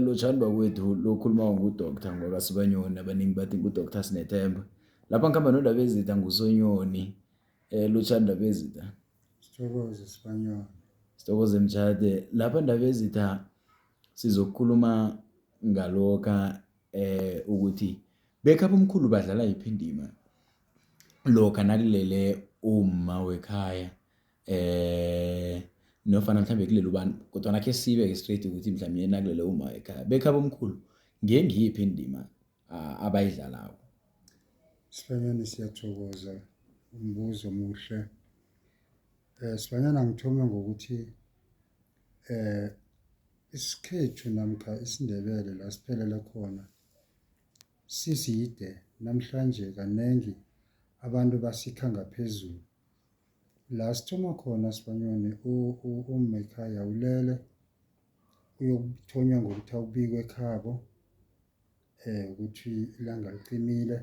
Lotjhani bakwethu lo okhulumako ngu-doctor ngoba sibanyoni abanengi bathi ngu-doctor Sinethemba. Lapha ngikhamba noNdabezitha nguSoNyoni. Lotjhani Ndabezitha. Sithokoze Sibanyoni. Sithokoze Mtjhade. Lapha Ndabezitha sizokukhuluma ngalokha ukuthi bekhabo mkhulu badlala yiphi indima lokha nakulele umma wekhaya. eh nofana mhlambe kulele ubani kodwana khe sibe-ke straight ukuthi mhlawumbe nakulele uma ekhaya bekhaba omkhulu ngengiyiphi indima uh, abayidlalako sibanyana siyathokoza umbuzo omuhle um eh, sibanyana ngithome ngokuthi um isikhethu namkha isindebele la siphelela khona siside namhlanje kaningi abantu basikha ngaphezulu La sithoma khona sibanyoni umma ekhaya ulele, uyokuthonywa ngokuthi awubike ekhabo ukuthi ilanga liqimile,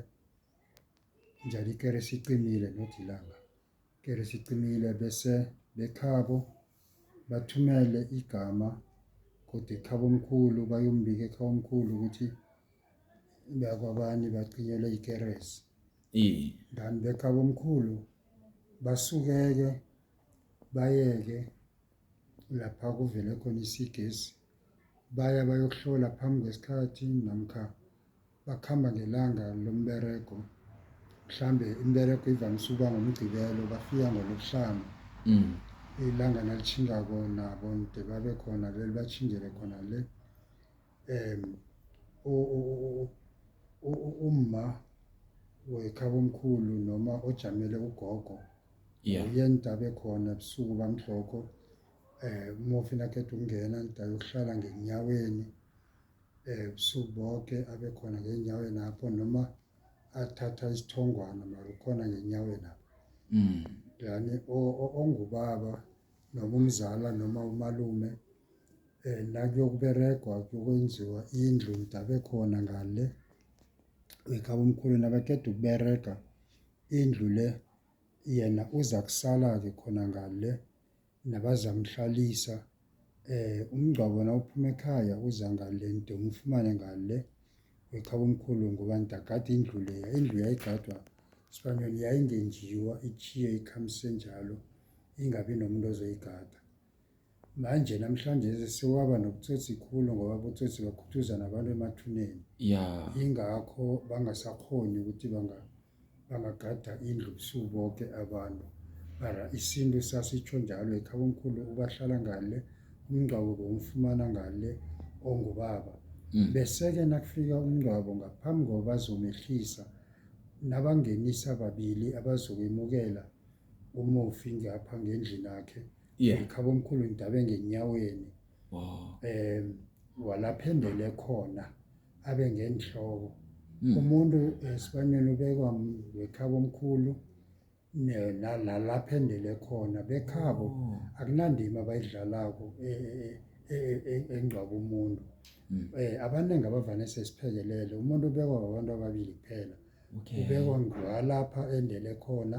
njalo ikeresi icimile not ilanga, ikeresi icimile bese bekhabo bathumele igama godu ekhabomkhulu bayombika ekhabomkhulu ukuthi bakwabani bacinyelwe ikeresi iye dan bekhabomkhulu basukeke bayeke lapha kuvele khona isigesi baya bayokuhlola phambi kwesikhathi namkha bakhamba ngelanga lomberego mhlambe imberego ivamise ukuba ngomgcibelo bafika ngolokuhlanu mm. ilanga nalitshingako nabo nde babe khona le libatshingele khona le um umma wekhabomkhulu noma ojamele ugogo uye ntabe khona ebusuku bamhlokho um eh, umufi nakhetha ukungena ntabe ukuhlala ngenyaweni ebusuku boke abe khona ngenyaweni apho noma athatha isithongwana mara ukhona ngenyaweni apho Mm. yani o- o- ongubaba noma umzala noma umalume eh nakuyokuberegwa kuyokwenziwa indlu idabe khona ngale wekhaba omkhulu nabaqeda ukuberega indlu le yena uza kusala-ke khona ngale nabazamhlalisa umngcwabo nawuphuma ekhaya uza ngale nto umfumane ngale weqhabomkhulu ngoba ndagada indlu leya indlu yayigadwa sibanyoni yayingenjiwa ichiye ikhamise njalo ingabi nomuntu ozoyigada manje namhlanje sewaba nobutsotsi khulu ngoba abotsotsi bakhuthuzana abantu emathuneni ya ingakho bangasakhoni ukuthi bangagada indlu busuku boke abantu mara isintu sasitsho njalo ekhabomkhulu ubahlala ngale umngcwabo bowumfumana ngale ongubaba hmm. bese-ke nakufika umngcwabo ngaphambi koba bazomehlisa nabangenisa babili abazokwemukela umufi ngapha ngendlini akhe yeah. ngikhaba omkhulu ngidabe ngenyaweni Wow. Eh walaphendele khona abe ngenhloko. Mm. Umuntu esibaneni ubekwa wekhabo omkhulu nalaphendele khona bekhabo oh. akunandima bayidlalako e, e, e, engcwaba umuntu. Mm. Eh abaningi abavane sesiphekelele umuntu ubekwa abantu ababili kuphela. Okay. Ubekwa ngwalapha endele khona.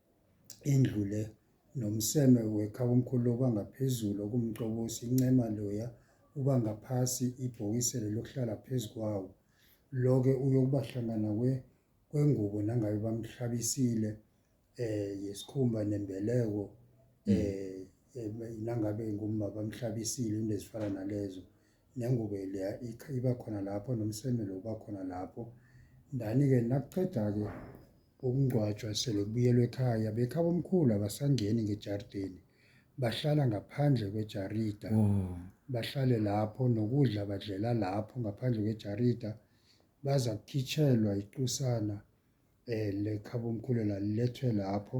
indlu le nomseme wekhabomkhulu lo ubangaphezulu okumcobosi incema loya uba ngaphasi ibhokiselo lokuhlala phezu kwawo lo-ke uyokuba hlangana kwengubo nangabe bamhlabisile um yesikhumba nembeleko um nangabe ngumma bamhlabisile into ezifana nalezo nengubo leya iba khona lapho nomseme lo uba khona lapho. Ndani-ke nakuqeda-ke ukungcwatshwa sele kubuyelwa ekhaya, bekhabo omkhulu abasangeni ngejarideni, bahlala ngaphandle kwejarida. Oh. Bahlale lapho nokudla badlela lapho ngaphandle kwejarida, baza kukhitshelwa iqusana um lekhabomkhulu lethwe lapho.